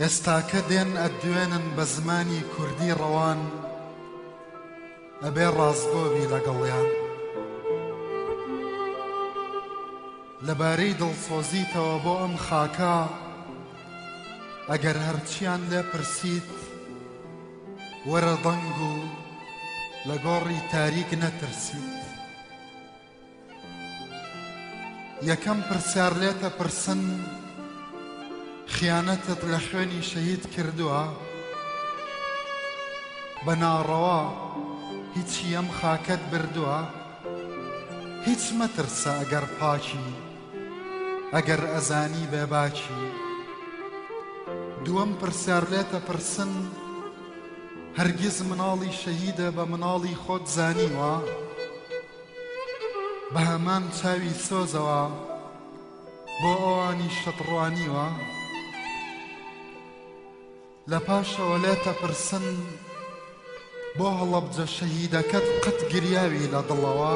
ئێستاکە دێن ئەتدوێنن بە زمانی کوردی ڕەوان ئەبێ ڕاستگۆ بی لەگەڵیان لەبارەی دڵسۆزیتەوە بۆ ئەم خاکە ئەگەر هەرچیان لێ پرسیت وەرە دەنگ و لە گۆڕی تاریک نەترسیت یەکەم پرسیار لێت ئەپرسن خیانەتت لە خوێنی شەهید کردووە؟ بە ناڕەوا هیچی ئەم خاکەت بردووە؟ هیچ مەترسە ئەگەر پاکی ئەگەر ئەزانی بێ باکی دووەم پرسیار لێت ئەپرسن هەرگیز مناڵی شەهیدە بە مناڵی خۆت زانیوە؟ بە هەمان چاوی سۆزەوە بۆ ئەوانیشت ڕوانیوە لە پاشەوە لێت ئەپرسن بۆ هەڵەبجە شەهیدەکەت قەت گریاوی لە دڵەوە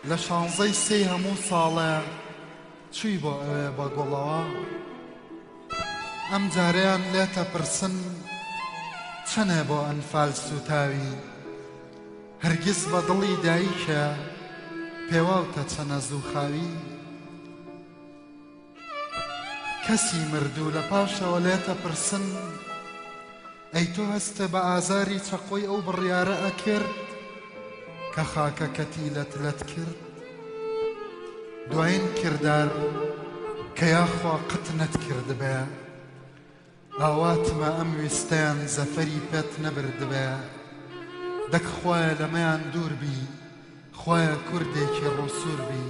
لە شانزەی سێی هەموو ساڵێ چووی بۆ ئەوێ بە گوڵەوە ئەم جارەیان لێتە پرسن چەنێ بۆ ئەنفال سوتاوی هەرگیز بە دڵی دایکە پێواوتە چەنە زوو خاوی کەسی مردوو لە پاشەوە لێتە پرسن ئەی تۆ هەستە بە ئازاری چەقۆی ئەو بڕیارە ئەکرد کە خاکەکەتی لەت لەت کرد دوایین کردار کە یاخوا قەت نەتکردبێ. ئاواتمە ئەم ویستەیان زەفەری پێت نەبردبایە دەک خوایە لەمەیان دوور بی خوایە کوردێکی ڕووسوور بی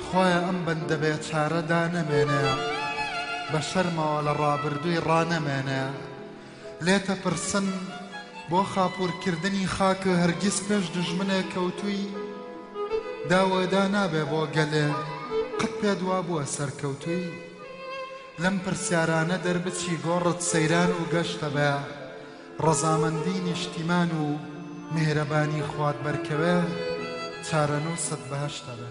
خوایە ئەم بەندە بێچارە دانەمێنەیە بە شەرمەوە لە ڕابردووی ڕانەمێنەیە لێتە پرسن بۆ خاپوورکردنی خاکە هەرگیز پێش دوژمنێک کەوتووی داوەدا نابێ بۆ گەلێ قەت پێت وابووە سەرکەوتووی لەم پرسیارانە دەربچی گۆڕت سەیران و گەشتە بە ڕەزامەندی نیشتیمان و میهرەبانی خوات بەرکەوێ چارەنووست بەهەشتە بێ.